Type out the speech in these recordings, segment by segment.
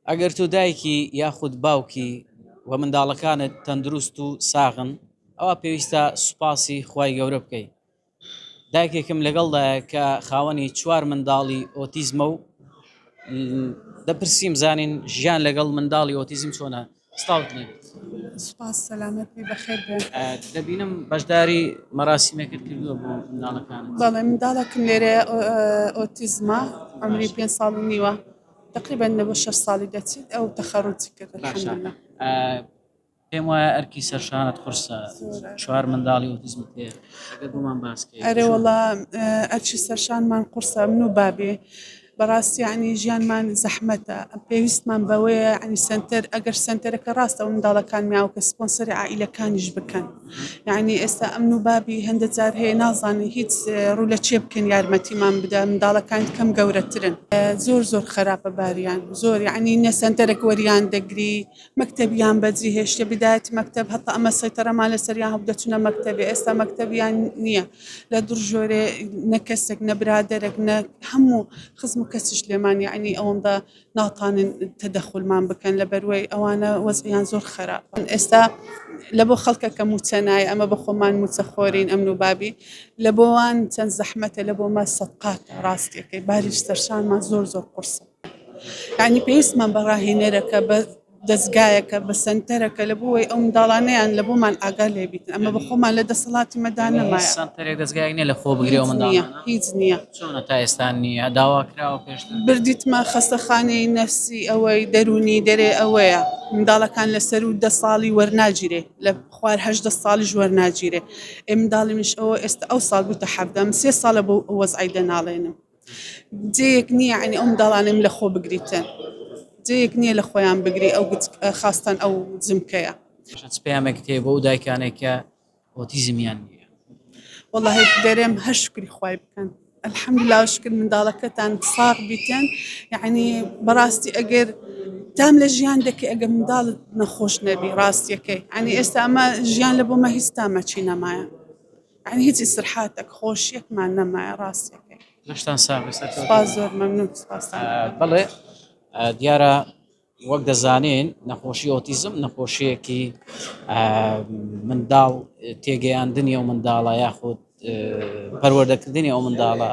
ئەگەر تۆ دایکی یاخود باوکی و منداڵەکانت تەندروست و ساغن ئەوا پێویستە سوپاسی خوای گەورە بکەی. دایکێکم لەگەڵدایە کە خاوەنی چوار منداڵی ئۆتیزمە و دەپرسیم زانین ژیان لەگەڵ منداڵی ئۆتیزم چۆنە؟ ستاوتنی. سوپاس سەلامەت بی بەخێر بێ. دەبینم بەشداری مەراسیمێکت کردووە بۆ منداڵەکانت. بەڵێ منداڵەکم لێرە ئۆتیزمە عمری پێنج ساڵ و نیوە. تقریبا لە بۆ شەش ساڵی دەچیت ئەو تەخەڕوجی کرد الحمدلله پێم وایە ئەرکی سەرشانت قرسە چوار منداڵی ئۆتیزم تێ ئەگەر بۆمان باس ئەرێ وڵا ئەرچی سەرشانمان قورسە من و بابێ بەڕاستی عنی ژیانمان زەحمەتە پێویستمان بەوەیە ئەنی سنتەر ئەگەر سنتەرەکە ڕاستە و منداڵەکان میاوکە سپۆنسەری عیلەکانیش بکەن. یانی ئێستا ئەمن و بابی هەندە جار هەیە نازانن هیچ ڕوو لە چێ بکەن یارمەتیمان بدە منداڵەکان کەم گەورەترن زۆر زۆر خراپە باریان زۆر یعنی نەسەنتەرەك وەریان دەگری مەکتتەبیان بەجی هێشتە بدایەت مەکتب هەتا ئەمە سەیتەرەمان لەسەریان هەبدەچونە مەکتتەبێ ئێستا مەکتتەبیان نییە لە دڕژۆرێ نەکەسێک نەبرادەرەك نە هەموو خزم و کەسیش لێمان یعنی ئەوەندە ناتانن تەدەخولمان بکەن لە بەروەی ئەوانە وەزعیان زۆر خراپ ئێستا لە بۆ خەڵکە کە موچە نایە ئەمە بە خۆمان موچە خۆرین ئەمن و بابی لە بۆوان چەند زەحمەتە لە بۆمە سەقات ڕاستەکەی باریش سەرشانمان زۆر زۆر قرسە ینی پێویستمان بە ڕاهێنەرەکە بە دەزگایەکە بە سەنتەرەکە لە بۆ وەی ئەو منداڵانەیان لە بۆمان ئاگا لێ بیتن ئەمە بە خۆمان لە دەسەڵاتی مەدا نەمایە سەنتەرێک دەزگایەک نیە لە خۆ بگرێ ئەو هیچ نییە منداڵانە هیچ نییە چۆنە تا ئێستا نییە داوا کراوە پێشتر بردیتمە خەستەخانەی نەفسی ئەوەی دەروونی دەرێ ئەوەیە منداڵەکان لە سەر و دە ساڵی وەرناگیرێ لە خوار هەژدە ساڵیش وەرناگیرێ ئێ منداڵی منش ئەوە ئێستا ئەو ساڵ بووتە حەڤدە من سێ ساڵە بەو وەزعەی دەناڵێنم جێیەک نییە یەعنی ئەو منداڵانەم لە خۆ بگریتن جێیەک نییە لە خۆیان بگری ئەو خاستان ئەو جمکەیە پەیامێکت هەیە بۆ دایکانێک کە ئۆتیزمیان نیە والله دەرێم هەر شکری خی بکەن الحمد لا شکر منداڵەکەتان ساغ بیتن یعنی بەڕاستی ئەگەر تام لە ژیان دەکە ئەگە منداڵت نەخۆش نەبی ڕاستیەکەی ئەنی ئێستا ئەمە ژیان لە بۆمە هیچ تامەچی نەمایە یانی هیچ ئیسترحاتەک خۆشیەکمان نەمایە ڕاستەکەی. لەشتان ساغ بێت سەرکەوتوو بن. سوپاس زۆر مەمنون سوپاستان ئەکەم. بەڵێ دیارە وەک دەزانین نەخۆشی ئۆتیزم نەخۆشیەکی منداڵ تێگەیاندنی ئەو منداڵە یاخود پەروەردەکردنی ئەو منداڵە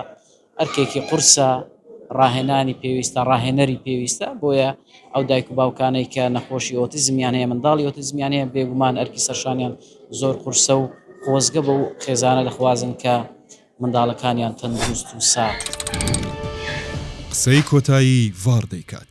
ئەرکێکی قورسە، ڕاهێنانی پێویستە، ڕاهێنەری پێویستە، بۆیە ئەو دایک و باوکانەی کە نەخۆشی ئۆتیزمیان هەیە، منداڵی ئۆتیزمیان هەیە، بێگومان ئەرکی سەرشانیان زۆر قورسە و خۆزگە بەو خێزانە دەخوازن کە منداڵەکانیان تەندروست و ساغ. قسەی کۆتایی ڤار دەیکات.